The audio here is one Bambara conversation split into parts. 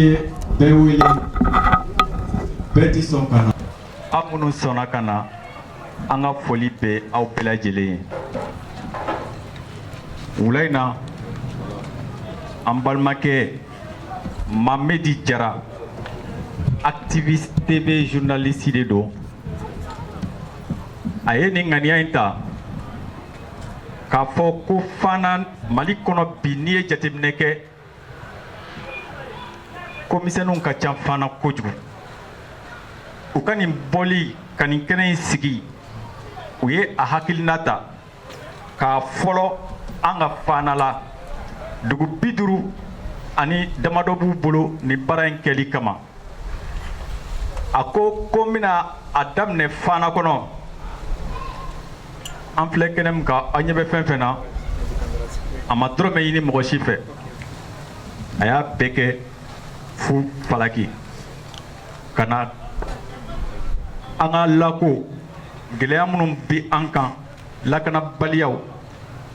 ye bɛɛ wele bɛɛ tɛ sɔn ka na aw minnu sɔnna ka na an ka foli bɛ aw bɛɛ lajɛlen ye wula in na an balimakɛ Mamɛdi jara activiste TV journaliste de don a ye nin ŋaniya in ta k'a fɔ ko fana mali kɔnɔ bi n'i ye jateminɛ kɛ ko misɛnninw ka ca fana kojugu u ka nin bɔli ka nin kɛnɛ in sigi u ye a hakilina ta k'a fɔlɔ an ka fana la dugu bi duuru ani damadɔ b'u bolo nin baara in kɛli kama a ko ko n bɛna a daminɛ fana kɔnɔ an filɛ kɛnɛ min kan aw ɲɛ bɛ fɛn fɛn na a ma dɔrɔmɛ ɲini mɔgɔ si fɛ a y'a bɛɛ kɛ fu falaki ka na an ka lako gɛlɛya minnu bi an kan lakanabaliyaw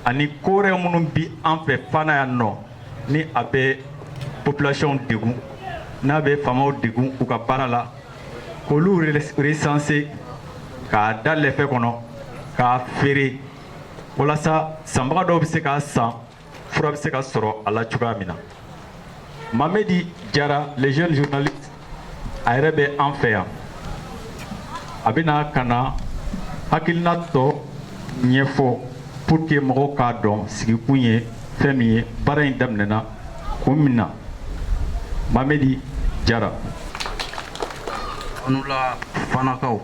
ani ko wɛrɛ minnu bi an fɛ fana yan nɔ ni a bɛ population degun n'a bɛ faamaw degun u ka baara la k'olu recenser k'a da lɛfɛ kɔnɔ k'a feere walasa sanbaga dɔw bɛ se k'a san fura bɛ se ka sɔrɔ a la cogoya min na mamɛdi jara le jeune journaliste a yɛrɛ bɛ an fɛ yan a bɛna ka na hakilina tɔ ɲɛfɔ pour que mɔgɔw k'a dɔn sigikun ye fɛn min ye baara in daminɛna kun min na mamɛdi jara aw ni wula fanakaw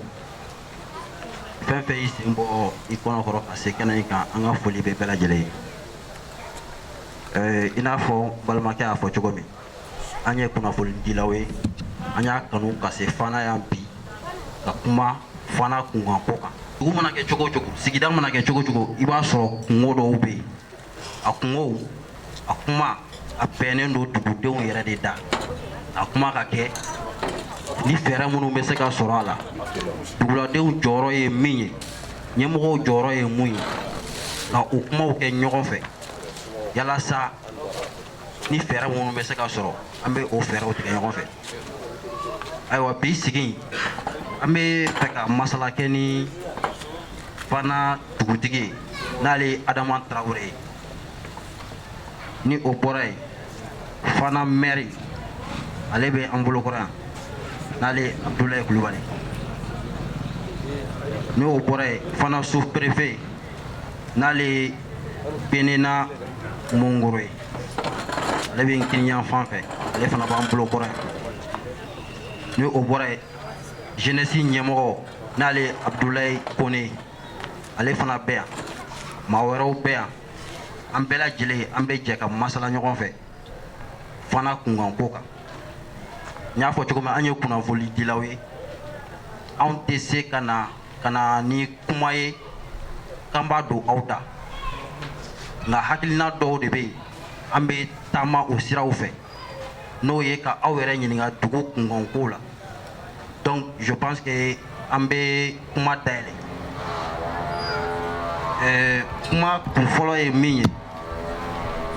fɛn fɛn y'i sen bɔ i kɔnɔ kɔrɔ ka se kɛnɛ in kan an ka foli bɛ bɛɛ lajɛlen ye eh, i n'a fɔ balimakɛ y'a fɔ cogo min an ye kunnafonidilaw ye an y'a kanu ka se fana yan bi ka kuma fana kunkanko kan dugu mana kɛ cogo cogo sigida mana kɛ cogo cogo i b'a sɔrɔ kunko dɔw bɛ yen a kunkow a kuma a bɛnnen don dugudenw yɛrɛ de da a kuma ka kɛ ni fɛɛrɛ minnu bɛ se ka sɔrɔ a la duguladenw jɔyɔrɔ ye min ye ɲɛmɔgɔw jɔyɔrɔ ye mun ye ka o kumaw kɛ ɲɔgɔn fɛ yalasa ni fɛɛrɛ minnu bɛ se ka sɔrɔ an bɛ o fɛɛrɛw tigɛ ɲɔgɔn fɛ ayiwa bi sigi an bɛ fɛ ka masala kɛ ni fana dugutigi ye n'ale ye adama tarawele ye ni o bɔra yen fana mɛri ale bɛ an bolokɔrɔ yan n'ale ye abudulayi kulubali ni o bɔra yen fana sous-préfet n'ale ye benena mongoro ye ale bɛ n kinin yanfan fɛ ale fana b'an bolo kɔrɔ yan ni o bɔra yen jeunesse ɲɛmɔgɔ n'ale ye abudulayi kone ye ale fana bɛ yan maa wɛrɛw bɛ yan an bɛɛ lajɛlen an bɛ jɛ ka masala ɲɔgɔn fɛ fana kunkanko kan n y'a fɔ cogo min an ye kunnafonidilaw ye anw tɛ se ka na ka na ni kuma ye k'an b'a don aw da nka hakilina dɔw de bɛ yen an bɛ taama o siraw fɛ n'o ye ka aw yɛrɛ ɲininka dugu kunkanko la donc je pense que an bɛ kuma dayɛlɛ ɛɛ kuma kun fɔlɔ ye min ye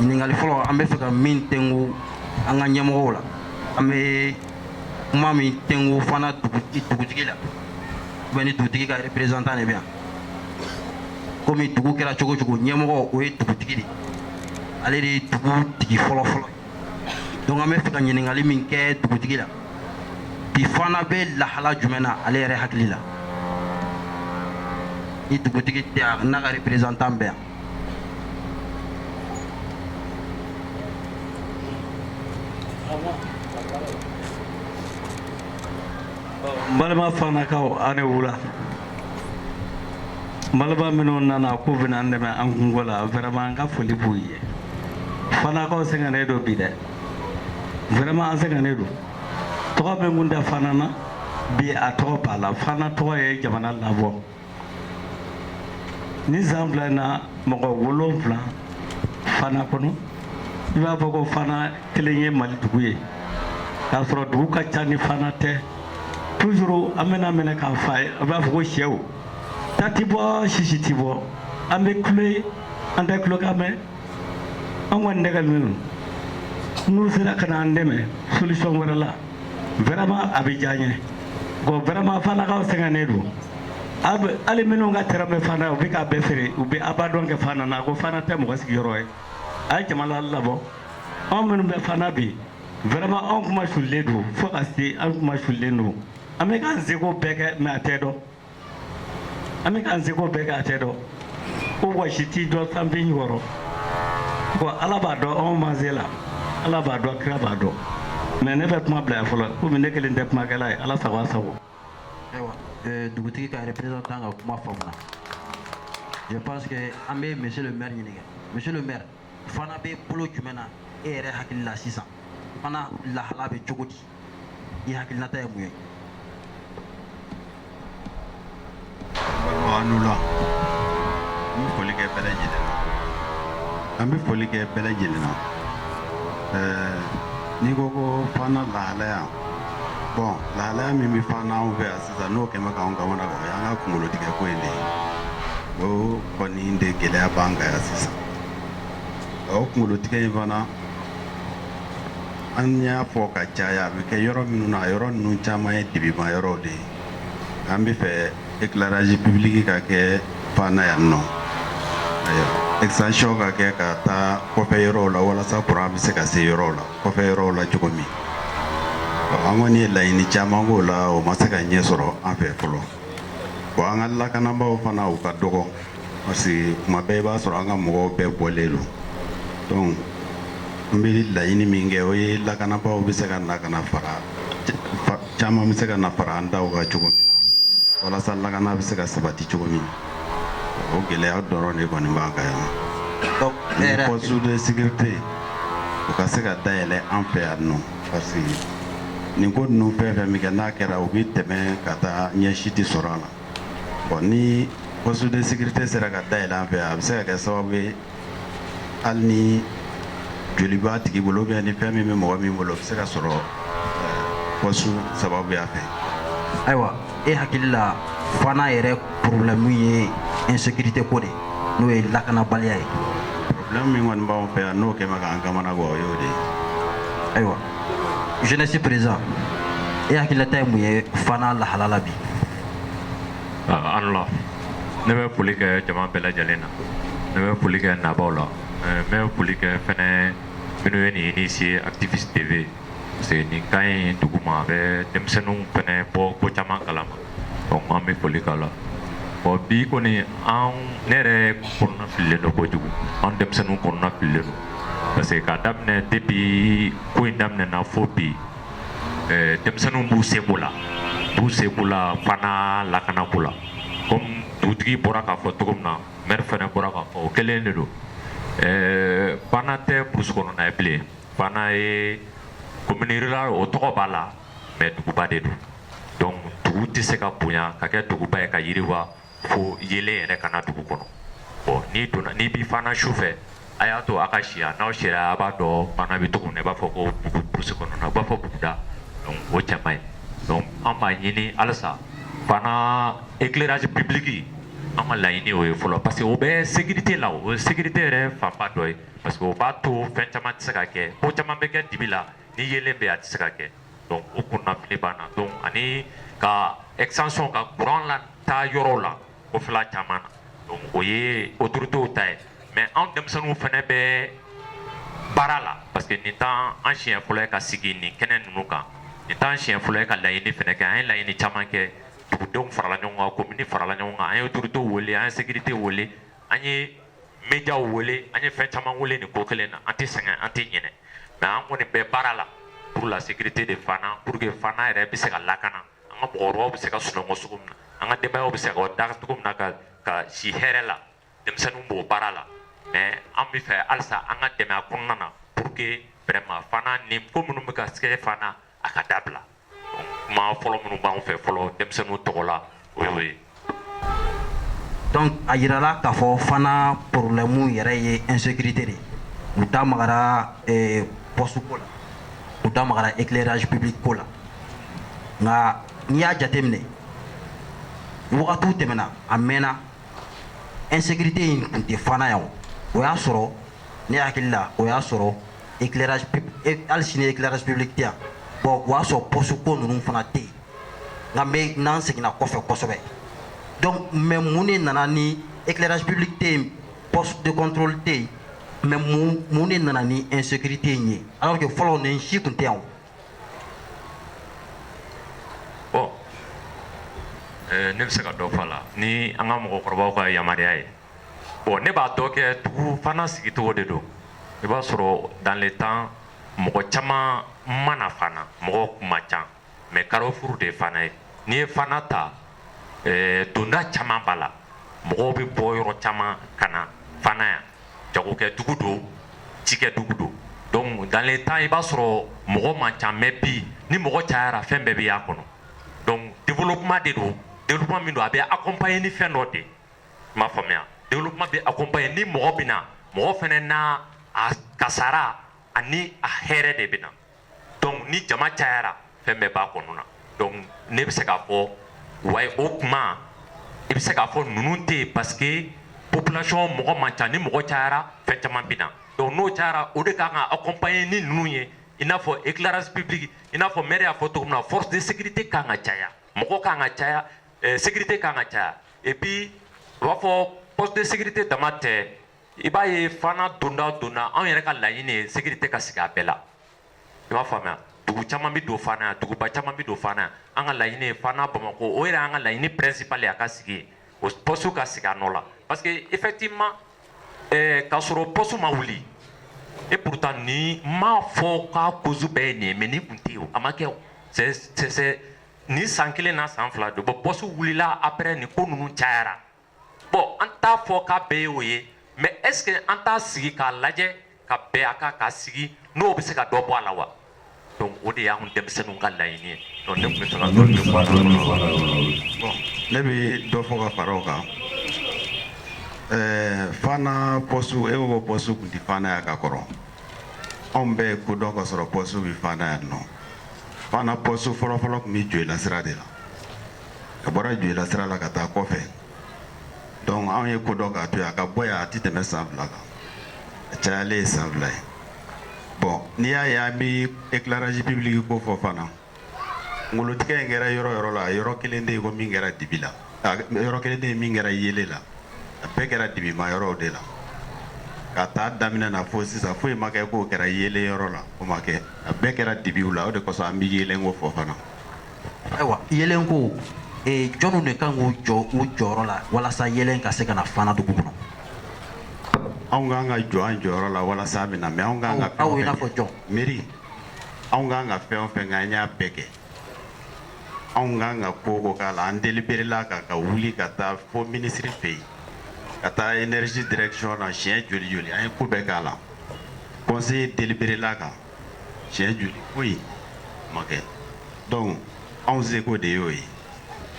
ɲininkali fɔlɔ an bɛ fɛ ka min tɛnku an ka ɲɛmɔgɔw la an bɛ kuma min tɛnku fana dugutigi la ou bien ni dugutigi ka représentant de bɛ yan komi dugu kɛra cogo o cogo ɲɛmɔgɔ o ye dugutigi de ale de ye dugu tigi fɔlɔ fɔlɔ donc an bɛ fɛ ka ɲininkali min kɛ dugutigi la bi fana bɛ lahala jumɛn na ale yɛrɛ hakili la ni dugutigi tɛ yan n'a ka représentant bɛ yan balima fanakaw aw ni wula balima minnu nana k'u bɛna an dɛmɛ an kunko la vraiment an ka foli b'u ye fanakaw sɛgɛnnen don bi dɛ vraiment an sɛgɛnnen don tɔgɔ min kun tɛ fana na bi a tɔgɔ b'a la fana tɔgɔ ye jamana labɔ ni san fila na mɔgɔ wolonwula fana kɔnɔ i b'a fɔ ko fana kelen ye mali dugu ye k'a sɔrɔ dugu ka ca ni fana tɛ toujours an bɛna minɛ k'a fa ye a b'a fɔ ko sɛw ta ti bɔ sisi ti bɔ an bɛ kulo an tɛ kulokan mɛn an kɔni degunnen don n'u sera ka na an dɛmɛ solution wɛrɛ la vraiment a bɛ diya n ye bon vraiment Fanakaw sɛgɛnnen don hali minnu ka terrain bɛ Fana u bɛ k'a bɛɛ feere u bɛ abandon kɛ Fana na ko Fana tɛ mɔgɔ sigiyɔrɔ ye a ye jamana labɔ anw minnu bɛ Fana bi vraiment anw kunmasulilen don fo ka se an kunmasulilen don an bɛ k'an seko bɛɛ kɛ mais a tɛ dɔn an bɛ k'an seko bɛɛ kɛ a tɛ dɔn ko wɔsi tɛ dɔn sanfin kɔrɔ ko ala b'a dɔn anw ma se la ala b'a dɔn kira b'a dɔn mais ne bɛ kuma bila yan fɔlɔ komi ne kelen tɛ kumakɛla ye ala sago a sago ayiwa eh, dugutigi ka représentant ka kuma faamuna je pense que an bɛ monsieur le maire ɲininka monsieur le maire fana bɛ bolo jumɛn na e yɛrɛ hakili la sisan fana lahala bɛ cogo di I hakilinata ye mun ye? Aw ni wula. An bɛ foli kɛ bɛɛ lajɛlen na. An bɛ foli kɛ bɛɛ lajɛlen na. Eh, n'i ko ko fana lahalaya. Bon, lahalaya min bɛ fana anw fɛ yan sisan n'o kɛmɛ k'anw kamana gwan, o y'an ka kunkolo tigɛ ko in de ye. O kɔni de gɛlɛya b'an kan yan sisan. O kunkolo tigɛ in fana An y'a fɔ ka caya a bɛ kɛ yɔrɔ minnu na a yɔrɔ ninnu caman ye dibima yɔrɔw de ye an bɛ fɛ éclairage public ka kɛ fana yan nɔ extension ka kɛ ka taa kɔfɛ yɔrɔw la walasa kuran bɛ se ka se yɔrɔw la kɔfɛ yɔrɔw la cogo min an kɔni ye laɲini caman k'o la o ma se ka ɲɛ sɔrɔ an fɛ fɔlɔ bon an ka lakanabaaw fana u ka dɔgɔ parce que kuma bɛɛ i b'a sɔrɔ an ka mɔgɔw bɛɛ bɔlen don donc n bɛ laɲini min kɛ o ye lakanabaaw bɛ se ka na ka na fara caman bɛ se ka na fara an taw kan cogo min na walasa lakana bɛ se ka sabati cogo min o gɛlɛya dɔrɔn de kɔni b'an kan yan donc ne yɛrɛ poste de sécurité o ka se ka dayɛlɛ an fɛ yan nɔ parce que nin ko ninnu fɛn fɛn min kɛ n'a kɛra u bɛ tɛmɛ ka taa ɲɛ si tɛ sɔrɔ a la bon ni poste de sécurité sera ka dayɛlɛ an fɛ a bɛ se ka kɛ sababu ye hali ni joli b'a tigi bolo ou bien ni fɛn min bɛ mɔgɔ min bolo o bɛ se ka sɔrɔ poste sababuya fɛ ayiwa e hakili la fana yɛrɛ problème ye insécurité ko de n'o ye lakanabaliya ye problème min kɔni b'anw fɛ yan n'o kɛmɛ k'an kamana gwan o y'o de ye ayiwa jeunesse président e hakililata ye mun ye fana lahala la bi ah, aw ni wula ne bɛ foli kɛ jama bɛɛ lajɛlen na ne bɛ foli kɛ nabaaw la eh, n bɛ foli kɛ fɛnɛ minnu ye nin initier activiste tv parce que nin ka ɲi dugu ma a bɛ denmisɛnninw fɛnɛ bɔ ko caman kalama an bɛ foli k'a la bon bi kɔni an ne yɛrɛ kɔnɔna fililen don kojugu an denmisɛnninw kɔnɔna fililen don parce que k'a daminɛ depuis ko in daminɛna fo bi ɛɛ denmisɛnninw b'u seko la b'u seko la fana lakanako la comme dugutigi bɔra k'a fɔ cogo min na maire fɛnɛ bɔra k'a fɔ o kelen de don ɛɛ fana tɛ brousse kɔnɔna ye bilen fana ye commune rurale o tɔgɔ b'a la mais duguba de don donc dugu tɛ se ka bonya ka kɛ duguba ye ka yiriwa fo yeelen yɛrɛ ka na dugu kɔnɔ bon n'i donna n'i bɛ Fana su fɛ a y'a to a ka si yan n'aw sera a b'a dɔn Fana bɛ cogo min na i b'a fɔ ko bugu brousse kɔnɔna u b'a fɔ buguda donc o cɛ man ɲi donc an b'a ɲini halisa Fana éclairage public an ka laɲini o ye fɔlɔ parce que o bɛ sécurité la o ye sécurité yɛrɛ fanba dɔ ye parce que o b'a to fɛn caman tɛ se ka kɛ ko caman bɛ kɛ dibi la ni yeelen bɛ a tɛ se ka kɛ donc o kunnafili b'an na donc ani ka extension ka courant lataa yɔrɔw la kɔfɛla caman na donc o ye autoritéw ta ye mais anw denmisɛnninw fɛnɛ bɛ baara la parce que nin t'an an siɲɛ fɔlɔ ye ka sigi nin kɛnɛ ninnu kan nin t'an siɲɛ fɔlɔ ye ka laɲini fɛnɛ kɛ an ye laɲini caman kɛ dugudenw farala ɲɔgɔn kan commune farala ɲɔgɔn kan an ye autoritéw wele an ye sécurité wele an ye médiaw wele an ye fɛn caman wele nin ko kelen na an tɛ sɛgɛn an tɛ ɲinɛ mais an kɔni bɛ baara la pour la sécurité de Fana pour que Fana yɛrɛ bɛ se ka lakana an ka mɔgɔkɔrɔbaw bɛ se ka sunɔgɔ cogo min na an ka denbayaw bɛ se ka da cogo min na ka si hɛrɛ la denmisɛnninw b'o baara la mais an b'a fɛ halisa an ka dɛmɛ a kɔnɔna na pour que vraiment Fana nin ko minnu bɛ ka kɛ Fana a ka dabila kuma fɔlɔ minnu b'an fɛ fɔlɔ denmisɛnninw tɔgɔ la o y'o ye donc a yirala k'a fɔ Fana problème yɛrɛ ye insécurité de u da magara eh, poste ko la u da magara éclairage public ko la nka n'i y'a jateminɛ wagatiw tɛmɛna a mɛnna insécurité in tun tɛ Fana yan o y'a sɔrɔ ne hakili la o y'a sɔrɔ éclairage pub e, hali sini éclairage public tɛ yan bon o y'a sɔrɔ poste ko ninnu fana tɛ yen nka n bɛ n'an seginna kɔfɛ kosɛbɛ donc mais mun de nana ni éclairage public tɛ yen poste de contrôle tɛ yen mais mun mun de nana ni insécurité in ye alors que fɔlɔ nin si tun tɛ yan o. bon ɛɛ ne bɛ se ka dɔ fɔ a la ni an ka mɔgɔkɔrɔbaw ka yamaruya ye. Bon ne b'a dɔn kɛ dugu fana sigicogo de don i b'a sɔrɔ dans le temps mɔgɔ caman ma na Fana mɔgɔ kun man ca mais carrefour de Fana ye n'i ye Fana ta donda caman b'a la mɔgɔ bɛ bɔ yɔrɔ caman ka na Fana yan jagokɛ dugu don cikɛ dugu don donc dans le temps i b'a sɔrɔ mɔgɔ man ca mais bi ni mɔgɔ cayara fɛn bɛɛ b'a kɔnɔ donc développement de don développement min don a bɛ accompagner ni fɛn dɔ de M'a faamuya développement bɛ accompagner ni mɔgɔ bɛ na, mɔgɔ fana n'a a kasara ani a hɛrɛ de bɛ na donc ni jama cayara fɛn bɛɛ b'a kɔnɔ na donc ne bɛ se k'a fɔ wayi o tuma i bɛ se k'a fɔ ninnu tɛ yen parce que population mɔgɔ man ca ni mɔgɔ cayara fɛn caman bɛ na donc n'o cayara o de ka kan ka accompagner ni ninnu ye i n'a fɔ éclairage public i n'a fɔ maire y'a fɔ cogo min na force de sécurité ka kan ka caya mɔgɔ ka kan ka caya eh, sécurité kan ka caya et puis u b'a fɔ poste de sécurité dama tɛ i b'a ye fana donda o donda anw yɛrɛ ka laɲini ye sécurité ka sigi a bɛɛ la i b'a faamuya dugu caman bɛ don fana yan duguba caman bɛ don fana yan an ka laɲini ye fana bamakɔ o yɛrɛ y'an ka laɲini principal ye a ka sigi yen o poste ka sigi a nɔ la parce que effectivement eh, k'a sɔrɔ poste ma wuli et pourtant ne m'a fɔ k'a cause bɛɛ ye nin ye mais nin tun tɛ yen o a ma kɛ o c'est c'est Ni san kelen na san fila don bon poste wulila après nin ko ninnu cayara bon an t'a fɔ k'a bɛɛ ye o ye mais est-ce que an t'a sigi k'a lajɛ ka bɛn a kan k'a sigi n'o bɛ se ka dɔ bɔ a la wa donc o de y'an denmisɛnninw ka laɲini ye ne bɛ dɔ fɔ ka fara o kan ɛɛ fana poste e ko ko poste tun tɛ fana yan ka kɔrɔ anw bɛɛ ye ko dɔn k'a sɔrɔ poste bɛ fana yan non fana poste fɔlɔfɔlɔ tun bɛ Joyila sira de la a bɔra Joyila sira la ka taa kɔfɛ donc anw ye ko dɔn k'a to yen a ka bɔ yan a tɛ tɛmɛ san fila kan a cayalen ye san fila ye bon n'i y'a ye an bɛ éclairage public ko fɔ fana Ngolotigɛ in kɛra yɔrɔ yɔrɔ la a yɔrɔ kelen tɛ yen ko min kɛra dibi la yɔrɔ kelen tɛ yen min kɛra yelen na a bɛɛ kɛra dibima yɔrɔw de la k'a ta a daminɛ na fo sisan foyi ma kɛ k'o kɛra yelen yɔrɔ la o ma kɛ a bɛɛ kɛra dibi la o de kosɔn an bɛ yelen ko fɔ fana ayiwa yelen ko jɔnw de kan k'u jɔ u jɔyɔrɔ la walasa yelen ka se ka na fana dugu kɔnɔ anw kan ka jɔ an jɔyɔrɔ la walasa a bɛ na mais anw kan ka aw i n'a fɔ jɔn mi anw kan ka fɛn o fɛn kɛ an y'a bɛɛ kɛ anw kan ka ko o ko k'a la an deliberela kan ka wuli ka taa fo minisiri fɛ yen ka taa énergie direction na siɲɛ joli joli an ye ko bɛɛ k'a la conseil deliberela kan siɲɛ joli foyi ma kɛ donc anw seko de y'o ye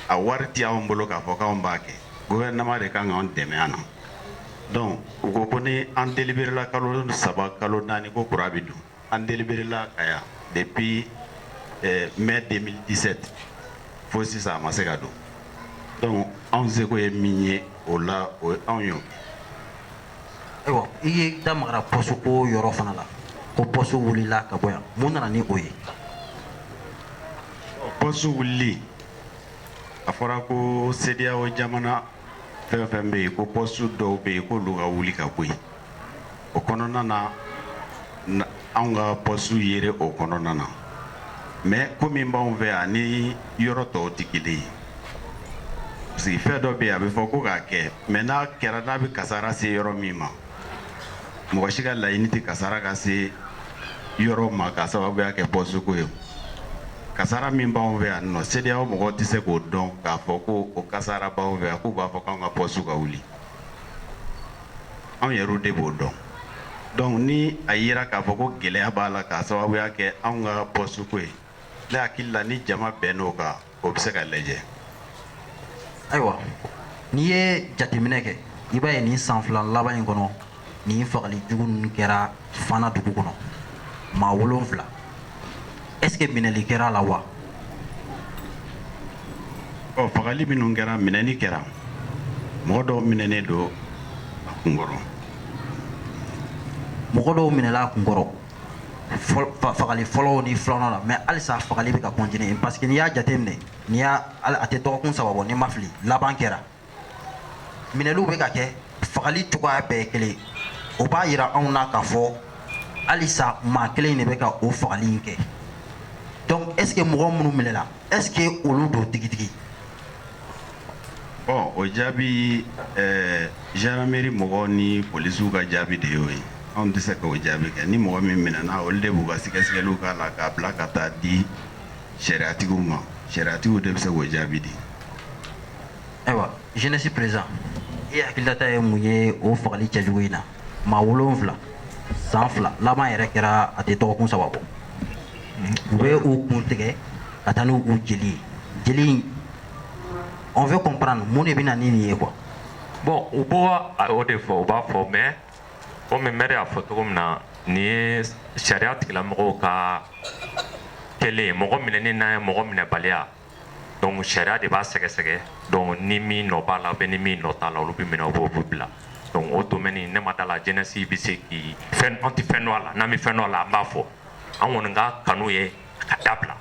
a wari tɛ anw bolo k'a fɔ k'anw b'a kɛ gouvernement de kan k'anw dɛmɛ a na donc u ko ko ni an deliberela kalo saba kalo naani ko courant bɛ don An deliberela kan yan depuis mai deux mille dix-sept fo sisan a ma se ka don donc anw seko ye min ye o la o ye anw y'o kɛ ayiwa i ye da magara poste ko yɔrɔ fana la ko poste wulila ka bɔ yan mun nana ni o ye poste wulili a fɔra ko CEDEAO jamana Fɛn o fɛn bɛ yen ko poste dɔw bɛ yen k'olu ka wuli ka bɔ yen, o kɔnɔna na anw ka poste yera o kɔnɔna na mais ko min b'anw fɛ yan ani yɔrɔ tɔw tɛ kelen ye parce que fɛn dɔ bɛ yen a bɛ fɔ ko k'a kɛ mais n'a kɛra n'a bɛ kasara se yɔrɔ min ma mɔgɔ si ka laɲini tɛ kasara ka se yɔrɔ ma k'a sababuya kɛ poste ko ye kasara min b'anw fɛ yan nɔ CEDEAO mɔgɔw tɛ se k'o dɔn k'a fɔ ko o kasara b'anw fɛ yan k'u b'a fɔ k'anw ka poste ka wuli anw yɛrɛw de b'o dɔn donc ni a yera k'a fɔ ko gɛlɛya b'a la k'a sababuya kɛ anw ka poste ko ye ne hakili la ni jama bɛnn'o kan o bɛ se ka lajɛ ayiwa n'i ye jateminɛ kɛ i b'a ye nin san fila laban in kɔnɔ nin fagali jugu ninnu kɛra fana dugu kɔnɔ maa wolonfila est ce que minɛli kɛra a la wa ɔ fagali minnu kɛra minɛni kɛra mɔgɔ dɔw minɛnen don a kunkɔrɔ mɔgɔ dɔw minɛla a kunkɔrɔ fagali fɔlɔw ni filanan la mais halisa fagali bɛ ka continuer parce que n'i y'a jateminɛ n'i y'a a tɛ dɔgɔkun saba bɔ n'i ma fili laban kɛra minɛliw bɛ ka kɛ fagali cogoya bɛɛ ye kelen o b'a yira anw na k'a fɔ halisa maa kelen de bɛ ka o fagali in kɛ donc est ce que mɔgɔ minnu minɛla est ce que olu don tigitigi o jaabi gendarmerie mɔgɔw ni polisiw ka jaabi de y'o ye anw tɛ se k'o jaabi kɛ ni mɔgɔ min minɛna olu de b'u ka sɛgɛsɛgɛli k'a la k'a bila ka taa di sariyatigiw ma sariyatigiw de bɛ se k'o jaabi di ayiwa jeunesse président e hakililata ye mun ye o fagali cɛ jugu in na maa wolonfila san fila laban yɛrɛ kɛra a tɛ dɔgɔkun saba bɔ u bɛ u kun tigɛ ka taa n'u jeli jeli on veut comprendre mun de bɛ na ni nin ye quoi. bon u b'o de fɔ u b'a fɔ mais komi mɛri y'a fɔ cogo min na nin ye sariya tigilamɔgɔw ka kɛlen ye mɔgɔ minɛni n'a ye mɔgɔ minɛbaliya donc sariya de b'a sɛgɛsɛgɛ donc ni min nɔ b'a la ou bien ni min nɔ t'a la olu bɛ minɛ u b'o b'u bila donc o domaine ne ma da la jeunesse bɛ se k'i fɛn an tɛ fɛn dɔn a la n'an bɛ fɛn dɔn a la an b'a fɔ an kɔni ka kanu ye ka dabila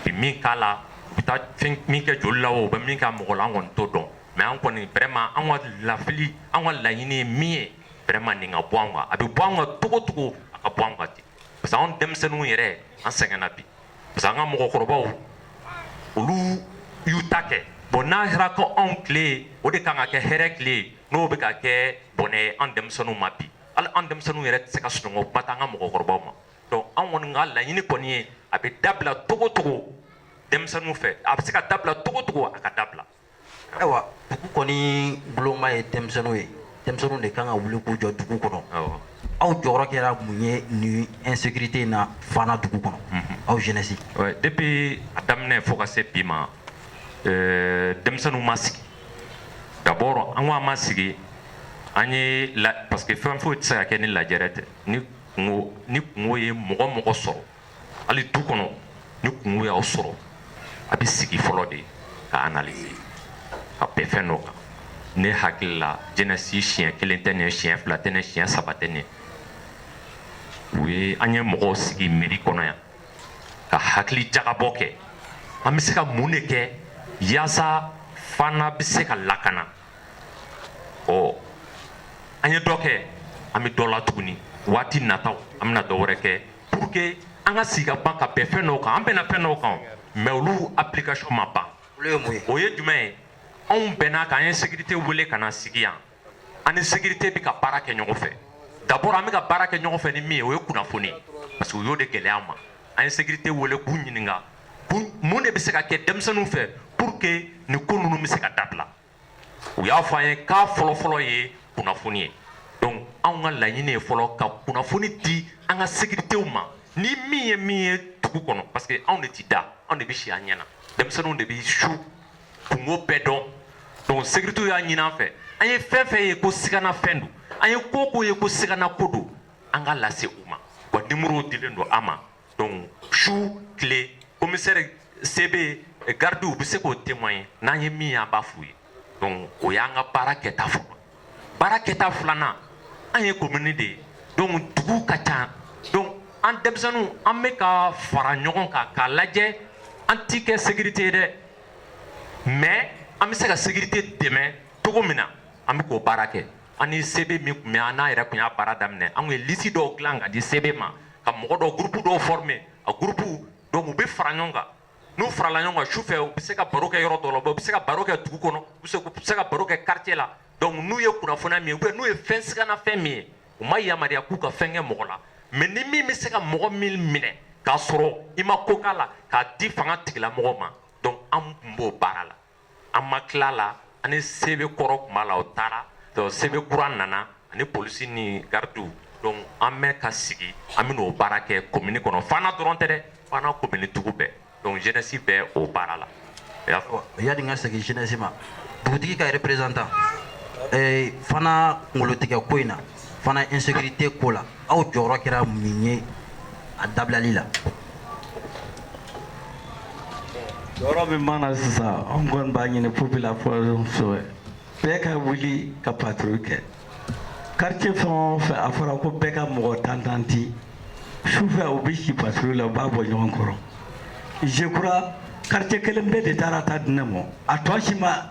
bi min k'a la u bɛ taa fɛn min kɛ joli la u bɛ min kɛ mɔgɔ la an kɔni t'o dɔn mais an kɔni vraiment an ka lafili an ka laɲini ye min ye vraiment nin ka bɔ an kan a bɛ bɔ an kan cogo o cogo a ka bɔ an kan ten parce que anw denmisɛnninw yɛrɛ an sɛgɛnna bi parce que an ka mɔgɔkɔrɔbaw olu y'u ta kɛ bon n'a kɛra ko anw tile o de kan ka kɛ hɛrɛ tile n'o bɛ ka kɛ bɔnɛ ye an denmisɛnninw ma bi hali an denmisɛnninw yɛrɛ tɛ se ka sunɔgɔ kuma tɛ an ka mɔgɔkɔrɔbaw ma donc an kɔni ka laɲini kɔni ye a bɛ dabila cogo cogo denmisɛnninw fɛ a bɛ se ka dabila cogo cogo a ka dabila ayiwa dugu kɔni boloma ye denmisɛnninw ye denmisɛnninw de kan ka wuli k'u jɔ dugu kɔnɔ aw jɔyɔrɔ kɛra mun ye nin insécurité in na Fana dugu kɔnɔ mhm. aw jeunesse depuis a daminɛ fo ka se bi ma euh, denmisɛnninw ma sigi d'abord an ko an ma sigi an ye parce que fɛn foyi tɛ se ka kɛ ni lajɛrɛ tɛ ni Ni kunko ye mɔgɔ mɔgɔ sɔrɔ hali du kɔnɔ ni kunko y'aw sɔrɔ a bɛ sigi fɔlɔ de ka analyser ka bɛn fɛn dɔ kan ne hakili la jeunesse siɲɛ kelen tɛ nin ye siɲɛ fila tɛ nin ye siɲɛ saba tɛ nin ye u ye an ye mɔgɔw sigi mairie kɔnɔ yan ka hakili jagabɔ kɛ an bɛ se ka mun de kɛ yaasa Fana bɛ se ka lakana ɔ an ye dɔ kɛ an bɛ dɔ la tuguni waati nataw an bɛna dɔ wɛrɛ kɛ pour que an ka sigi ka ban ka bɛn fɛn dɔw kan an bɛnna fɛn dɔw kan mais olu application ma ban o ye jumɛn ye anw bɛnna kan an ye sécurité wele ka na sigi yan an ni sécurité bɛ ka baara kɛ ɲɔgɔn fɛ d'abord an bɛ ka baara kɛ ɲɔgɔn fɛ ni min ye o ye kunnafoni parce que u y'o de gɛlɛya an ma an ye sécurité wele k'u ɲininka mun de bɛ se ka kɛ denmisɛnninw fɛ pour que nin ko ninnu bɛ se ka dabila u y'a fɔ an ye k'a fɔlɔfɔlɔ ye kunnafoni ye donc anw ka laɲini ye fɔlɔ ka kunnafoni di an ka sécuritéw ma ni min ye min ye dugu kɔnɔ parce que anw de ti da anw de bɛ si an ɲɛ na denmisɛnninw de bɛ su kunko bɛɛ dɔn donc sécuritéw y'a ɲini an fɛ an ye fɛn fɛn ye ko sigana fɛn don an ye ko ko ye ko sigana ko don an k'a lase u ma wa numéro dilen don an ma Donc su tile commissaire CB garidiw bɛ se k'o témoigner n'an ye min ye an b'a f'u ye donc o y'an ka baara kɛta fɔlɔ baara kɛta filanan an ye commune de ye donc dugu ka ca donc an denmisɛnninw an bɛ ka fara ɲɔgɔn kan k'a lajɛ an ti kɛ sécurité ye dɛ mais an bɛ se ka sécurité dɛmɛ cogo min na an bɛ k'o baara kɛ an ni CB min tun bɛ an n'a yɛrɛ tun y'a baara daminɛ an tun ye liste dɔw dilan ka di CB ma ka mɔgɔ dɔw groupe dɔw former a groupe donc u bɛ fara ɲɔgɔn kan n'u farala ɲɔgɔn kan su fɛ u bɛ se ka baro kɛ yɔrɔ dɔ la u bɛ se ka baro kɛ dugu kɔnɔ u bɛ se ka baro kɛ quartier la donc n'u ye kunnafoniya min ye ou bien n'u ye fɛn sigana fɛn min ye u ma yamaruya k'u ka fɛn kɛ mɔgɔ la mais ni min bɛ se ka mɔgɔ min minɛ k'a sɔrɔ i ma ko k'a la k'a di fanga tigilamɔgɔ ma donc an tun b'o baara la an ma tila la an ni CB kɔrɔ tun b'a la o taara CB kura nana ani polisi ni garidiw donc an bɛ ka sigi an bɛ n'o baara kɛ commune kɔnɔ Fana dɔrɔn tɛ dɛ Fana commune dugu bɛɛ donc jeunesse bɛ o baara la yanni n ka segin jeunesse ma dugutigi ka représentant Fana kunkolotigɛ ko in na Fana insécurité ko la aw jɔyɔrɔ kɛra mun ye a dabilali la yɔrɔ min mana sisan an kɔni b'a ɲini population fɛ bɛɛ ka wuli ka patrouille kɛ quartier fɛn o fɛn a fɔra ko bɛɛ ka mɔgɔ tan tan di sufɛ u bɛ si patrouille la u b'a bɔ ɲɔgɔn kɔrɔ je crois quartier kelen pe de taara ta di ne ma a tɔ si ma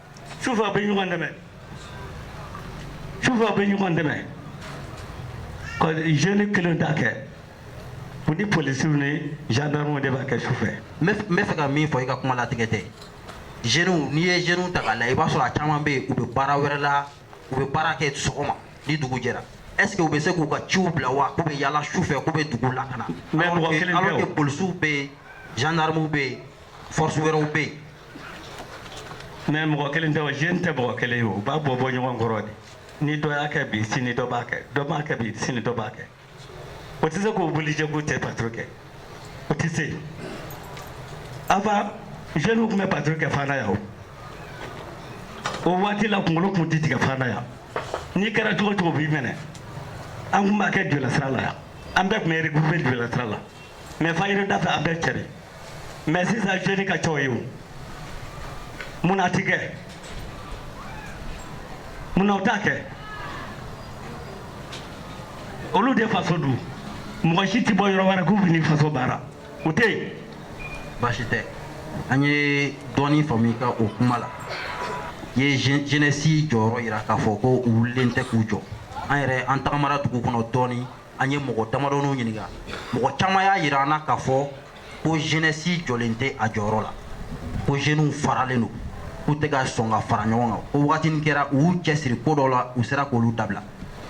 sufɛ u bɛ ɲɔgɔn dɛmɛ sufɛ u bɛ ɲɔgɔn dɛmɛ ko jeune kelen t'a kɛ u ni polisiw ni gendarmew de b'a kɛ sufɛ n bɛ fɛ ka min fɔ i ka kuma latigɛ tɛ jeunes n'i ye jeunes ta k'a lajɛ i b'a sɔrɔ a caman bɛ yen u bɛ baara wɛrɛ la u bɛ baara kɛ sɔgɔma ni dugu jɛra est ce que u bɛ se k'u ka ciw bila wa k'u bɛ yaala sufɛ k'u bɛ dugu lakana alors que polisiw bɛ yen gendarmew bɛ yen Force wɛrɛw bɛ yen mais mɔgɔ kelen tɛ o jeune tɛ mɔgɔ kelen ye u b'a bɔ bɔ ɲɔgɔn kɔrɔ de ni dɔ y'a kɛ bi sini dɔ b'a kɛ dɔ b'a kɛ bi sini dɔ b'a kɛ o tɛ se k'o obligé k'u tɛ patrouille kɛ o tɛ se avant jeunes tun bɛ patrouille kɛ fana yan o waati la kunkolo tun tɛ tigɛ fana yan n'i kɛra cogo o cogo u b'i minɛ an tun b'a kɛ jolasira la yan an bɛɛ tun bɛ regroupé jolasira la mais fajiri da fɛ an bɛɛ cɛ Mais sisan jeune ka ca o ye. Mun na a tɛ kɛ. Mun na u t'a kɛ. Olu de faso don. Mɔgɔ si ti bɔ yɔrɔ wɛrɛ k'u bɛ n'i faso baara. O tɛ yen. Baasi tɛ. An ye dɔɔnin faamu i ka o kuma la. I ye jeunesse jɔyɔrɔ yira k'a fɔ ko u wulilen tɛ k'u jɔ. An yɛrɛ an tagamara dugu kɔnɔ dɔɔnin. an ye mɔgɔ damadɔninw ɲininka mɔgɔ caman y'a yira an na k'a fɔ ko jeunesse jɔlen tɛ a jɔyɔrɔ la ko jeunes faralen don k'u tɛ ka sɔn ka fara ɲɔgɔn kan ko wagatinin kɛra u y'u cɛsiri ko dɔw la u sera k'olu dabila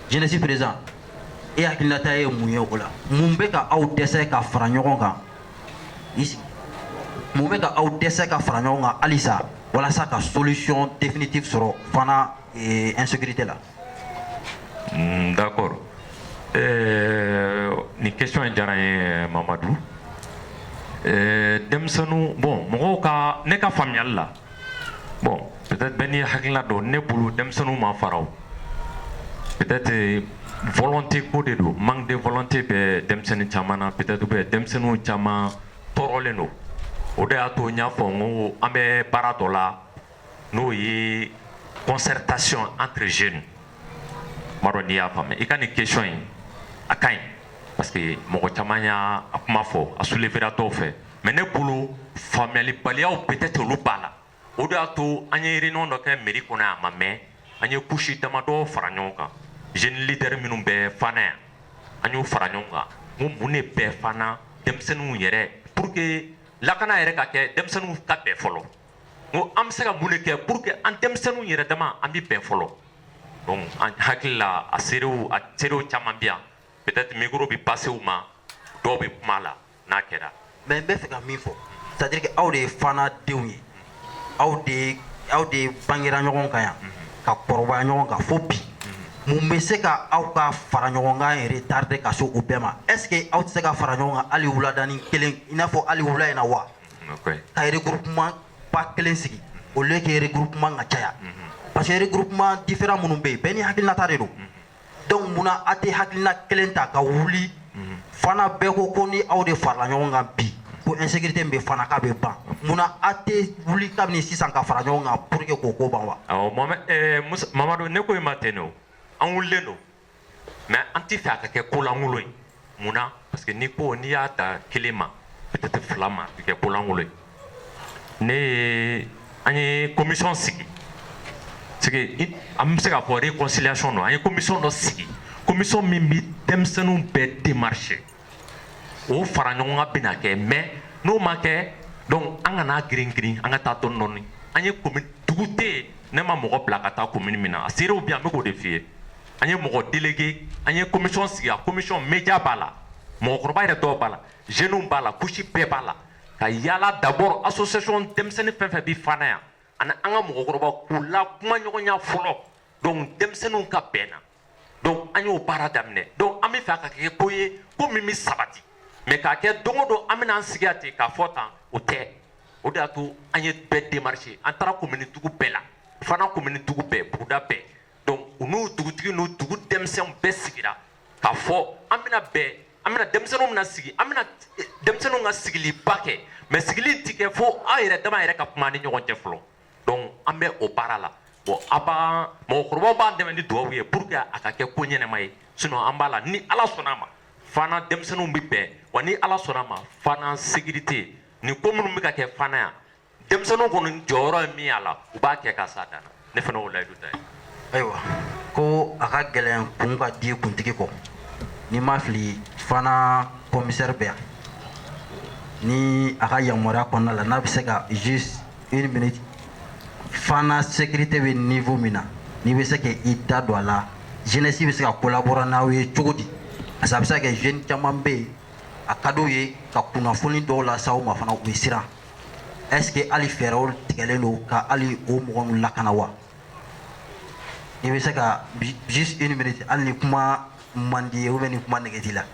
jeunesse président e hakilinata ye mun ye o la mun bɛ ka aw dɛsɛ ka fara ɲɔgɔn kan mun bɛ ka aw dɛsɛ ka fara ɲɔgɔn kan halisa walasa ka solution définitive sɔrɔ fana insécurité la Mm, d'accord. Euh, ni question in diyara n ye Mamadou. Euh, denmisɛnninw bon mɔgɔw ka ne ka faamuyali la bon peut-être bɛɛ n'i hakilina don ne bolo denmisɛnninw ma fara o peut-être euh, volonté ko de don manque de volonté bɛ denmisɛnnin caman na peut-être bɛ denmisɛnninw caman tɔɔrɔlen don o de y'a to n y'a fɔ n ko an bɛ baara dɔ la n'o ye concertation entre jeunes n m'a dɔn n'i y'a faamu i ka nin question in a ka ɲi parce que mɔgɔ caman y'a kuma fɔ a soulevera dɔw fɛ mais ne bolo faamuyalibaliyaw peut-être olu b'a la o de y'a to an ye réunion dɔ kɛ mairie kɔnɔ yan a ma mɛn an ye couche damadɔ fara ɲɔgɔn kan jeunes leaders minnu bɛ fana yan an y'u fara ɲɔgɔn kan ko mun de bɛ fana denmisɛnninw yɛrɛ pour que lakana yɛrɛ ka kɛ denmisɛnninw ka bɛn fɔlɔ ko an bɛ se ka mun de kɛ pour que an denmisɛnninw yɛrɛ dama an bɛ bɛn fɔlɔ donc an hakili la a seerew a seerew caman bɛ yan peut-être micro bɛ passer u ma dɔw bɛ kuma a la n'a kɛra mais n bɛ fɛ ka min fɔ c'est à dire que aw de ye fana denw ye aw de ye aw de ye bangera ɲɔgɔn kan yan ka kɔrɔbaya ɲɔgɔn kan fo bi mun bɛ se ka aw ka fara ɲɔgɔn kan retarder ka se o bɛɛ ma est ce que aw tɛ se ka fara ɲɔgɔn kan hali wuladani kelen i n'a fɔ hali wula in na wa ka regroupement ba kelen sigi au lieu que regroupement ka caya parce que regroupement différent minnu bɛ yen bɛɛ ni hakilinata de don donc munna a tɛ hakilina kelen ta ka wuli fana bɛɛ ko ko ni aw de farala ɲɔgɔn kan bi ko insécurité min bɛ fana k'a bɛ ban munna a tɛ wuli kabini sisan ka fara ɲɔgɔn kan pour que k'o ko ban wa. awɔ mamadu ne ko i ma ten de o an wulilen don. Mais an tɛ fɛ a ka kɛ kolankolon ye mun na parce que n'i ko n'i y'a ta kelen ma peut-être fila ma a bɛ kɛ kolankolon ye ne ye an ye commission sigi sigi an bɛ se k'a fɔ réconciliation don an ye commission dɔ sigi commission min bɛ denmisɛnninw bɛɛ démarcher o fara ɲɔgɔn kan bɛna kɛ mais n'o ma kɛ donc an kana girin girin an ka taa dɔɔni dɔɔni an ye commune dugu tɛ yen ne ma mɔgɔ bila ka taa commune min na a seerew bɛ yan n bɛ k'o de f'i ye an ye mɔgɔ délégué an ye commission sigi a commission média b'a la mɔgɔkɔrɔba yɛrɛ dɔw b'a la jeunes b'a la couche bɛɛ b'a la ka yaala d'abord association denmisɛnnin fɛn fɛn bɛ fana yan ani an ka mɔgɔkɔrɔba k'u la kuma ɲɔgɔnya fɔlɔ donc denmisɛnninw ka bɛn na donc an y'o baara daminɛ donc an bɛ fɛ a ka kɛ ko ye ko min bɛ sabati mais k'a kɛ don o don an bɛna an sigi yan ten k'a fɔ tan o tɛ o de y'a to an ye bɛɛ démarché an taara commune dugu bɛɛ la fana commune dugu bɛɛ buguda bɛɛ donc u n'u dugutigi n'u dugu denmisɛnw bɛɛ sigira k'a fɔ an bɛna bɛɛ an bɛna denmisɛnninw bɛna sigi an bɛna denmisɛnninw ka sigiliba kɛ mais sigili in tɛ kɛ fo aw yɛrɛ dama yɛrɛ ka kuma ni ɲɔgɔn cɛ fɔlɔ donc an bɛ o baara la bon a b'an mɔgɔkɔrɔbaw b'an dɛmɛ ni dugawu ye pour que a ka kɛ ko ɲɛnama ye sinon an b'a la ni ala sɔnna a ma fana denmisɛnninw bɛ bɛn wa ni ala sɔnna a ma fana sécurité nin ko minnu bɛ ka kɛ fana yan denmisɛnninw kɔni jɔyɔrɔ ye min y'a la u b'a kɛ ka s'a dan na ne fana y'o layidu ta i ye ayiwa ko a ka gɛlɛn kun ka di kuntigi kɔ ni n ma fili fana komisɛri bɛ yan ni a ka yamaruya kɔnɔna la n'a bɛ se ka juste une minute fana sécurité bɛ niveau min na n'i bɛ se ka i da don a la jeunesse bɛ se ka collaborer n'aw ye cogo di parce que a bɛ se ka kɛ jeune caman bɛ yen a ka d'u ye ka kunnafoni dɔw lase aw ma fana u bɛ siran est ce que hali fɛɛrɛw tigɛlen don ka hali o mɔgɔ ninnu lakana wa i bɛ se ka juste une minute hali ni kuma man d'i ye ou bien ni kuma nege t'i la.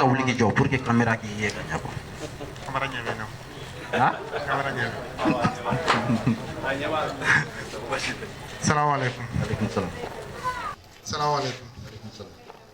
ka wuli k'i jɔ pour que kamera k'i ye ka ɲɛ quoi. Kamera ɲɛ bɛ n na. Ah? Kamera ɲɛ bɛ. Salamu alaikum. Alaikum salam. Salamu alaikum.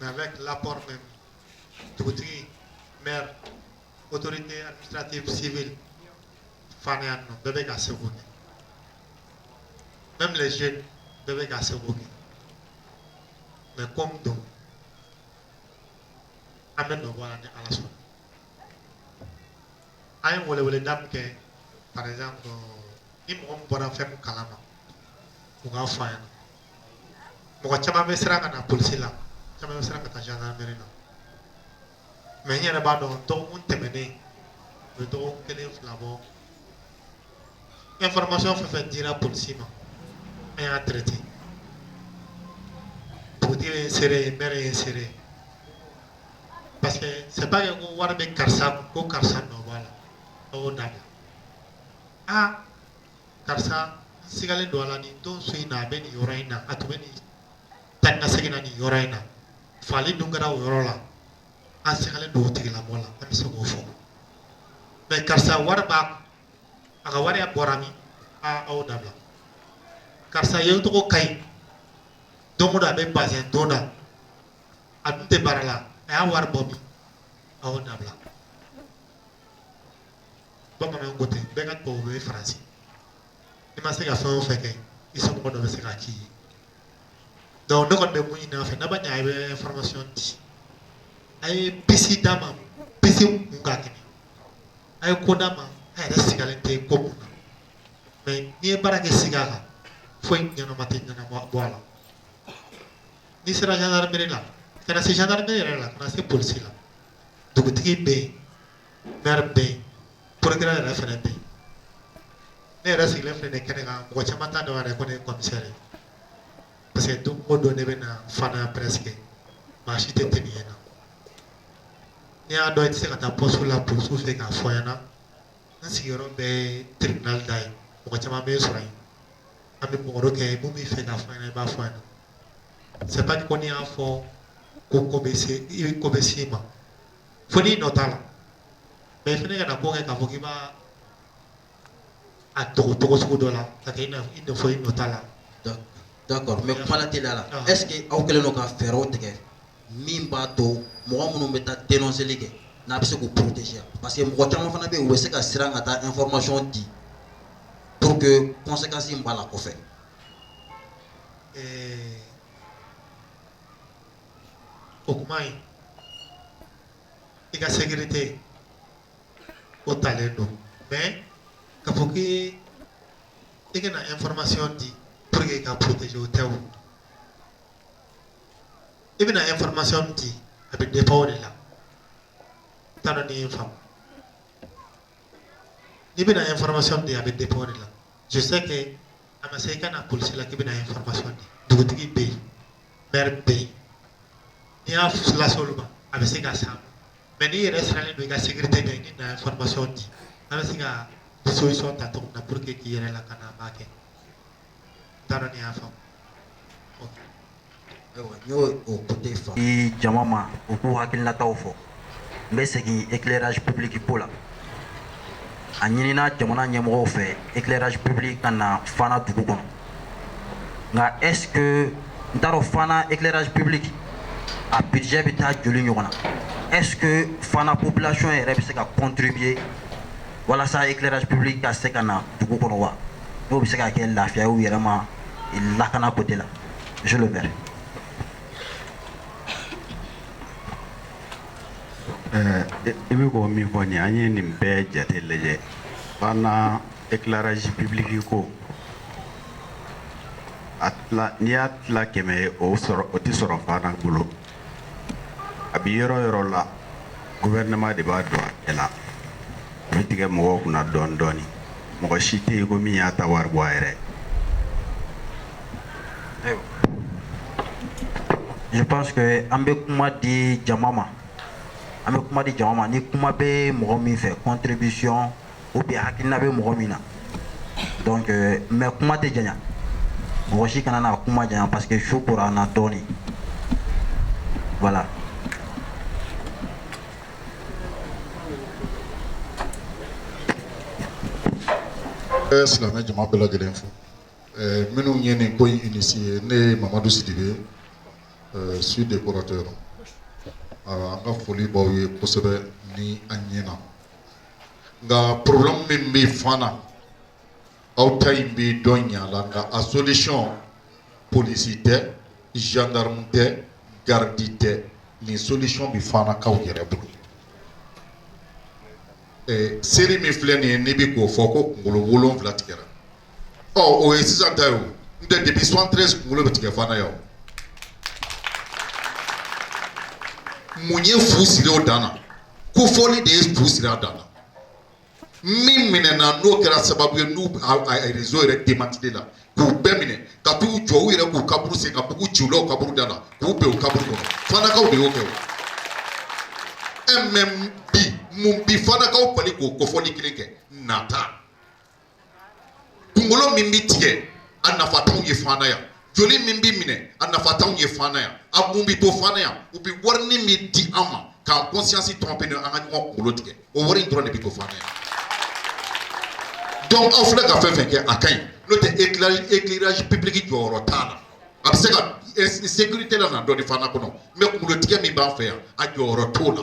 Mais avec l'apport même dugutigi, maire, autorité administrative civile, Fana yan bɛɛ bɛ k'a seko kɛ. Même les jeunes bɛɛ bɛ k'a seko kɛ. Mais comme donc, amène le voir à la soirée. an ye weleweleda min kɛ par exemple ni mɔgɔ min bɔra fɛn min kalama u k'a fɔ an ɲɛna mɔgɔ caman bɛ siran ka na polisi la caman bɛ siran ka taa gendarmerie la mais n yɛrɛ b'a dɔn dɔgɔkun tɛmɛnen o bɛ dɔgɔkun kelen fila bɔ information fɛn fɛn dira polisi ma an y'a traité dugutigi ye n seere ye mɛri ye n seere ye parce que c'est pas que ko wari bɛ karisa kun ko karisa nɔ b'a la a y'o dabila aa karisa n sigalen don a la nin don su in na a bɛ nin yɔrɔ in na a tun bɛ nin taa ni ka segin na nin yɔrɔ in na fagali dun kɛra o yɔrɔ la an sigalen don o tigilamɔgɔ la an bɛ se k'o fɔ mais karisa wari b'a kun a ka wari bɔra min a y'o dabila karisa ye tɔgɔ ka ɲi don o don a bɛ bazɛn don na a dun tɛ baara la a y'a wari bɔ min a y'o dabila bamananw ko ten bɛɛ ka tubabu bɛ faransi i ma se ka fɛn o fɛn kɛ i somɔgɔ dɔ bɛ se k'a k'i ye donc ne kɔni bɛ mun ɲini a fɛ n'a ma ɲɛ a bɛ information di a ye piste d'an ma piste min ka kɛnɛ a ye ko d'an ma a yɛrɛ sigalen tɛ ko min na mais n'i ye baara kɛ siga kan foyi ɲɛnama tɛ ɲɛnabɔ a la n'i siranna gendarmerie la kana se gendarmerie yɛrɛ la kana se polisi la dugutigi bɛ yen maire bɛ yen procureur yɛrɛ fana bɛ yen ne yɛrɛ sigilen filɛ nin kɛnɛ kan mɔgɔ caman t'a dɔn yɛrɛ ko ne ye commissaire ye parce que don o don ne bɛ na Fana presque maa si tɛ tɛmɛ yen na n'i y'a dɔn i tɛ se ka taa poste la polisiw fɛ k'a fɔ ɲɛna n sigiyɔrɔ bɛ tribunal da ye mɔgɔ caman bɛ sɔrɔ yen an bɛ mɔgɔ kɛ mun b'i fɛ k'a fɔ ɲɛna i b'a fɔ ɲɛna c'est pas ko n'i y'a fɔ ko ko bɛ se i ma fo n'i nɔ t'a la mais i fana kana ko kɛ k'a fɔ k'i b'a a dogo cogo sugu dɔ la ka kɛ i n'a fɔ i nɔ t'a la d'accord mais kuma la teliya la ah. est-ce que aw kɛlen don ka fɛɛrɛw tigɛ min b'a to mɔgɔ minnu bɛ taa dénonceli kɛ n'a bɛ se k'u protéger parce que mɔgɔ caman fana bɛ yen u bɛ se ka siran ka taa information di pour que conséquence in b'a la kɔfɛ. Euh, o kuma in i ka sécurité o talen don mais k'a fɔ k'i i ka na information di pour que i ka protéger o tɛ o i bɛna information min di a bɛ dépend o de la n t'a dɔn n'i ye n faamu n'i bɛna information min di a bɛ dépend o de la je sais que a ma se i ka na polisi la k'i bɛna information di dugutigi bɛ yen maire bɛ yen n'i y'a lase olu ma a bɛ se ka s'an ma mais n'i yɛrɛ sirannen don i ka sécurité ɲɛ n'i na information di an bɛ se ka disposition ta cogo min na pour que k'i yɛrɛ lakana an b'a kɛ n t'a dɔn n'i y'a faamu ok i jama ma u k'u hakilinataw fɔ n bɛ segin éclairage public ko la a ɲinina jamana ɲɛmɔgɔw fɛ éclairage public ka na Fana dugu kɔnɔ nka est ce que n t'a dɔn Fana éclairage public a budget bɛ taa joli ɲɔgɔn na est ce que Fana population yɛrɛ bɛ se ka contribuer walasa éclairage public ka se ka na dugu kɔnɔ wa n'o bɛ se ka kɛ lafiya ye u yɛrɛ ma lakana côté la. Monsieur le maire. Euh, i bɛ ko min fɔ nin an ye nin bɛɛ jate lajɛ Fana éclairage public ko a tila n'i y'a tila kɛmɛ ye o o tɛ sɔrɔ Fana bolo a bɛ yɔrɔ yɔrɔ la gouvernement de b'a don a bɛɛ la, a bɛ tigɛ mɔgɔw kunna dɔɔnin dɔɔnin, mɔgɔ si tɛ yen ko min y'a ta wari bɔ a yɛrɛ ye, je pense que an bɛ kuma di jama ma, an bɛ kuma di jama ma ni kuma bɛ mɔgɔ min fɛ contribution ou bien hakilina bɛ mɔgɔ min na donc euh, mais kuma tɛ janya mɔgɔ si kana na kuma janya parce que su kora an na dɔɔnin voilà n bɛ eh, silamɛ jama bɛɛ lajɛlen fo eh, minnu ye nin ko in initié ne ye mamadu sidibe eh, suis décorateur an ka foli b'aw ye kosɛbɛ ni an ɲɛna nka problème min bɛ fana aw ta in bɛ dɔn ɲa la nka a solution polisi tɛ gendarme tɛ garidi tɛ nin solution bɛ fanakaw yɛrɛ bolo série min filɛ nin ye n'i bɛ k'o fɔ ko kunkolo wolonwula tigɛra ɔ o ye sisan ta ye o n tɛ depuis 73 kunkolo bɛ tigɛ fana yan mun ye fu siri o dan na kofɔli de ye fu siri a dan na min minɛna n'o kɛra sababu ye n'u réseau yɛrɛ démantelé la k'u bɛɛ minɛ ka taa u jɔ u yɛrɛ k'u kaburu sen ka mugu ci u la u kaburu da la k'u bin u kaburu kɔnɔ fanakaw de y'o kɛ mais bi mun bi fanakaw bali k'o kofɔli kelen kɛ nata Kunkolo min bɛ tigɛ a nafa t'anw ye fana yan joli min bɛ minɛ a nafa t'anw ye fana yan a mun bɛ to fana yan u bɛ wari min di an ma k'an conscience tromper an ka ɲɔgɔn kunkolo tigɛ o wari in dɔrɔn de bɛ to fana yan donc aw filɛ ka fɛn fɛn kɛ a ka ɲi n'o tɛ éclairage public jɔyɔrɔ t'a la a bɛ se ka sécurité lana dɔɔnin fana kɔnɔ mais kunkolotigɛ min b'an fɛ yan a jɔyɔrɔ t'o la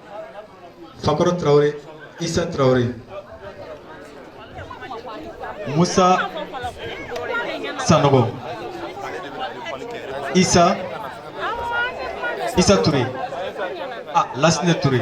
Fakoro Tarawele, Isa Tarawele, Musa Sanogo, Isa Isa Touré, ah Lasine Touré.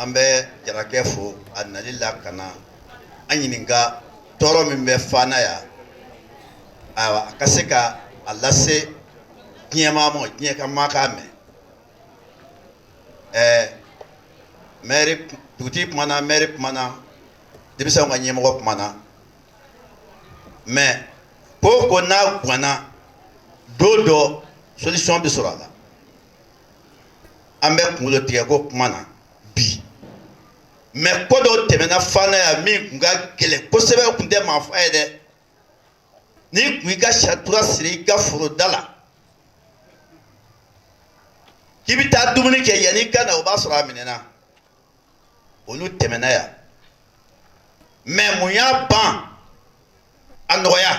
An bɛ jarakɛ fo a nali la ka na an ɲininka tɔɔrɔ min bɛ Fana yan, ayiwa a ka se ka a lase diɲɛ maa ma, diɲɛ ka maa k'a mɛn, ɛɛ maire dugutigi kuma na, maire kuma na, denmisɛnw ka ɲɛmɔgɔ kuma na mais ko o ko n'a ganna don dɔ solution bɛ sɔrɔ a la. an bɛ kunkolo tigɛ ko kuma na bi mais ko dɔw tɛmɛna fana yan min tun ka gɛlɛn kosɛbɛ tun tɛ maa faa ye dɛ n'i tun i ka satura siri i ka foro da la k'i bɛ taa dumuni kɛ yanni i ka na o b'a sɔrɔ a minɛna olu tɛmɛna yan mais mun y'a ban a nɔgɔya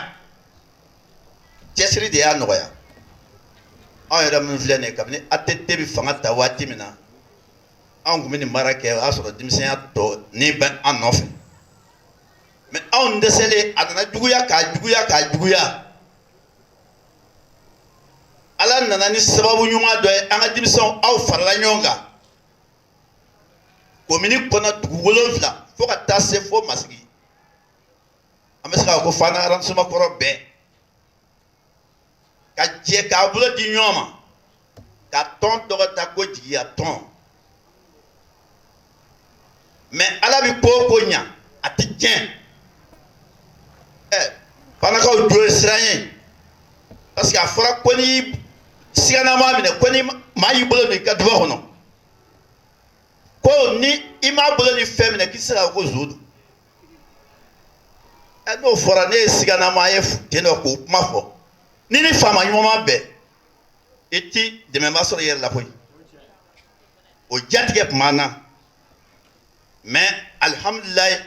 cɛsiri de y'a nɔgɔya anw yɛrɛ min filɛ nin kabini ATT bɛ fanga ta waati min na anw tun bɛ nin baara kɛ o y'a sɔrɔ denmisɛnya tɔnin bɛ an nɔfɛ mais anw dɛsɛlen a nana juguya k'a juguya k'a juguya ala nana ni sababu ɲuman dɔ ye an ka denmisɛnw aw farala ɲɔgɔn kan komini kɔnɔ dugu wolonwula fo ka taa se fo masigi an bɛ se k'a fɔ ko fana arrondissement kɔrɔ bɛɛ ka jɛ k'a bolo di ɲɔgɔn ma ka tɔn tɔgɔ ta ko jigiya tɔn mais ala bɛ k'o ko ɲa a tɛ tiɲɛ ɛ fanakaw jo ye siran ye parce que a fɔra ko ni siganama minɛ ko ni maa y'i bolo don i ka dufa kɔnɔ ko ni i m'a bolo ni fɛn minɛ k'i se k'a fɔ ko zon don ɛ n'o fɔra ne ye siganama a ye ten dɔ k'o kuma fɔ n'i ni faama ɲuman ma bɛn i ti dɛmɛba sɔrɔ i yɛrɛ la koyi o jatigɛ tun b'an na mais alihamdulilayi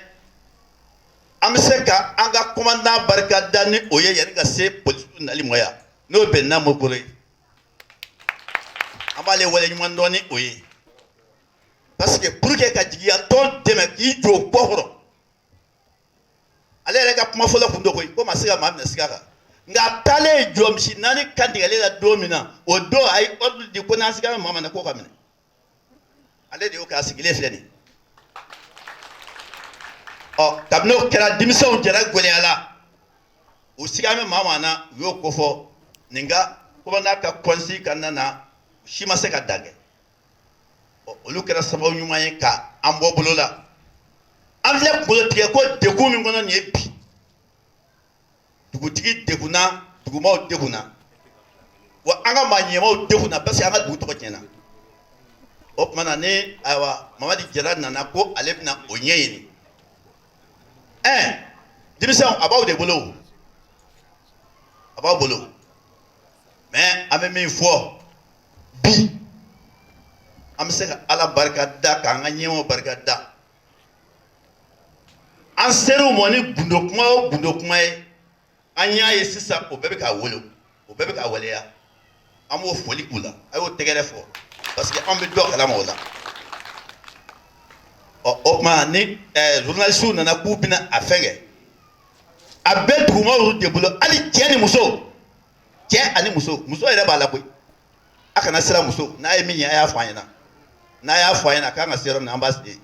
an bɛ se ka an ka kɔmandan barika da ni o ye yanni ka se politigi nali ma yan n'o bɛnɛna munkoro ye an b'ale wale ɲuman dɔn ni o ye parce que pour que ka jigiyatɔn dɛmɛ k'i jɔ o kɔkɔrɔ ale yɛrɛ ka kuma fɔlɔ kun don koyi ko ma se ka maa minɛ siga kan nka a taalen jɔ misi naani kantigɛlen la don min na o don a ye ordre di ko n'an sigara maa min na k'o ka minɛ Ale de y'o kɛ a sigilen filɛ nin ye ɔ kabini o kɛra denmisɛnw jɛra gɛlɛya la u siga bɛ maa maa na u y'o ko fɔ nin ka kuma n'a ka conseil kɔnɔna na si ma se ka dan kɛ ɔ olu kɛra sababu ɲuman ye ka an bɔ bolo la an filɛ kungolo tigɛ ko degun min kɔnɔ nin ye bi dugutigi degunna dugumaw degunna wa an ka maa ɲɛmaw degunna parce que an ka dugu tɔgɔ tiɲɛna o tuma na ne ayiwa mamadi jara nana ko ale bɛna o ɲɛɲini ɛɛ denmisɛnw a b'aw de bolo a b'aw bolo mais an bɛ min fɔ bi an bɛ se ka ala barika da k'an ka ɲɛmaw barika da An sera u ma ni gundo kuma o gundo kuma ye an y'a ye sisan o bɛɛ bɛ ka wolo o bɛɛ bɛ ka waleya an b'o foli k'u la a y'o tɛgɛrɛ fɔ parce que an bɛ dɔ kalama o la ɔ o tuma ni journalistes nana k'u bɛna a fɛn kɛ a bɛ dugumaw de bolo hali cɛ ni muso cɛ ani muso muso yɛrɛ b'a la koyi a kana siran muso n'a ye min ye a y'a fɔ an ɲɛna n'a y'a fɔ an ɲɛna a kan ka se yɔrɔ min na an b'a se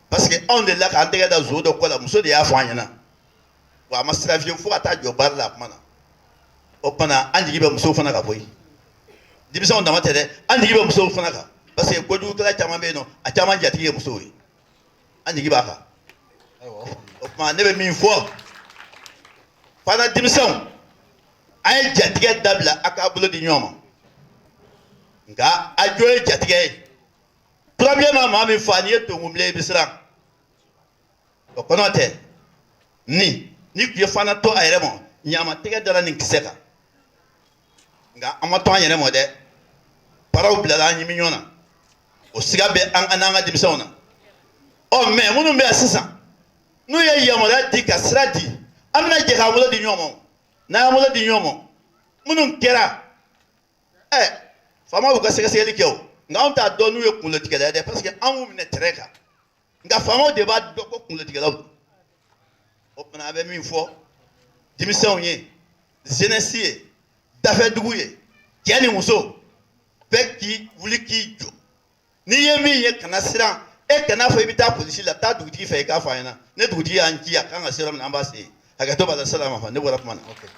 parce que anw delila k'an tɛgɛ da zon dɔ kɔ la muso de y'a fɔ an ɲɛna wa a ma siran fiyewu fo ka taa jɔ baara la a kuma na o tuma na an jigi bɛ musow fana kan koyi denmisɛnw dama tɛ dɛ an jigi bɛ musow fana kan parce que kojugukɛla caman bɛ yen nɔ a caman jatigi ye musow ye an jigi b'a kan o tuma ne bɛ min fɔ fana denmisɛnw a ye jatigɛ dabila a k'a bolo di ɲɔgɔn ma nka a jo ye jatigɛ ye turabilen ma maa min faa n'i ye tonkunbilen ye i bɛ siran o kɔ n'o tɛ ni nin tun ye Fana to a yɛrɛ ma ɲama tɛgɛ dara nin kisɛ kan nka an ma to an yɛrɛ ma dɛ paraw bilala an ɲimi ɲɔgɔn na o siga bɛ an na n'an ka denmisɛnw na ɔ mais minnu bɛ yan sisan n'u ye yamaruya di ka sira di an bɛna jɛ k'an bolo di ɲɔgɔn ma n'an y'an bolo di ɲɔgɔn ma minnu kɛra ɛ faamaw y'u ka sɛgɛsɛgɛli kɛ o nka anw t'a dɔn n'u ye kungolotigɛla ye dɛ parce que an y'u minɛ terrain kan nka faamaw de b'a dɔn ko kungolotigɛlaw don o tuma an bɛ min fɔ denmisɛnw ye jeunesse ye dafɛdugu ye cɛ ni muso bɛɛ k'i wuli k'i jɔ n'i ye min ye kana siran e kana fɔ i bɛ taa polisi la taa dugutigi fɛ i k'a fɔ a ɲɛna ne dugutigi y'an ci a kan ka se yɔrɔ min an b'a se hakɛto b'a la salama fa ne bɔra kuma na. Okay.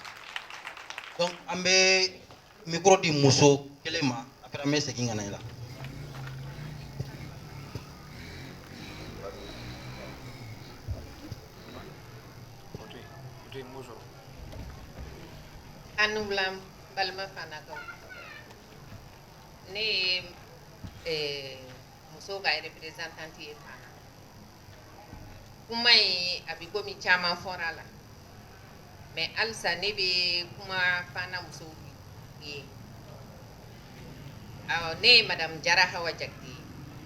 donc an bɛ micro di muso kelen ma après an bɛ segin ka na i la. Anublam balima fana kan. Ne ye musow ka représentante ye Fana kuma in a bɛ komi caman fɔra a la mais alisa ne bɛ kuma Fana musow ye ne ye madame Jara Hawa Jakite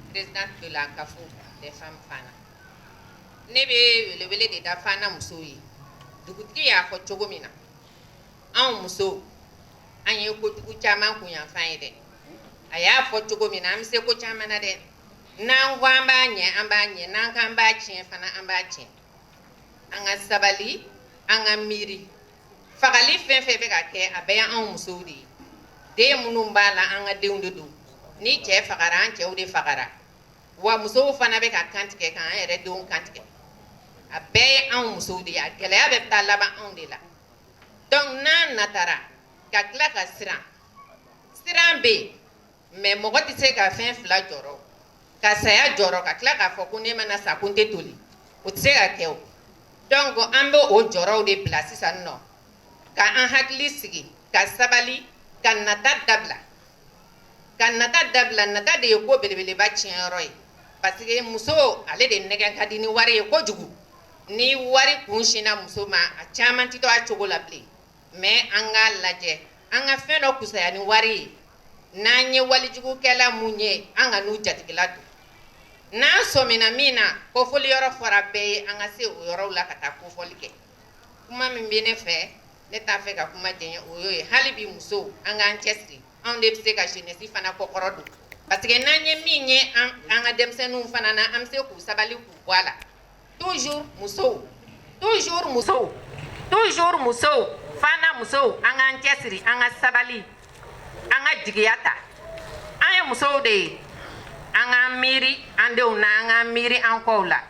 présidente de la CAFO des femmes Fana ne bɛ welewele de da Fana musow ye dugutigi y'a fɔ cogo min na anw musow an ye kojugu caman kunyanfan ye dɛ a y'a fɔ cogo min na an bɛ se ko caman na dɛ n'an ko an b'a ɲɛ an b'a ɲɛ n'an k'an b'a tiɲɛ fana an b'a tiɲɛ an ka sabali an ka miiri fagali fɛn fɛn bɛ ka kɛ a bɛɛ y'anw musow de ye den minnu b'a la an ka denw de don ni cɛ fagara an cɛw de fagara wa musow fana bɛ ka kan tigɛ k'an yɛrɛ denw kan tigɛ a bɛɛ ye anw musow de ye a gɛlɛya bɛ taa laban anw de la Donc n'an natara ka tila ka siran siran bɛ yen mais mɔgɔ tɛ se ka fɛn fila jɔrɔ ka saya jɔrɔ ka tila k'a fɔ ko ne mana sa ko n tɛ toli o tɛ se ka kɛ o donc an bɛ o jɔrɔw de bila sisan nɔ ka an hakili sigi ka sabali ka nata dabila Ka nata dabila nata de ye ko belebeleba tiɲɛyɔrɔ ye parce que muso ale de nɛgɛ ka di ni wari ye kojugu ni wari kun sinna muso ma a caman tɛ to a cogo la bilen mais an k'a lajɛ an ka fɛn dɔ fusaya ni wari ye n'an ye walijugukɛla minnu ye an ka n'u jatigila don n'an sɔmina min na kofɔli yɔrɔ fɔra bɛɛ ye an ka se o yɔrɔw la ka taa kofɔli kɛ kuma min bɛ ne fɛ ne t'a fɛ ka kuma jɛ o y'o ye hali bi musow an k'an cɛ siri anw de bɛ se ka jeunesse fana kɔ kɔrɔ don parce que n'an ye min ye an ka denmisɛnninw fana na an bɛ se k'u sabali k'u bɔ a la toujours musow toujours musow toujours musow fana musow an k'an cɛ siri an ka sabali an ka jigiya ta an ye musow de ye an ka miiri an denw na an ka miiri an kɔ la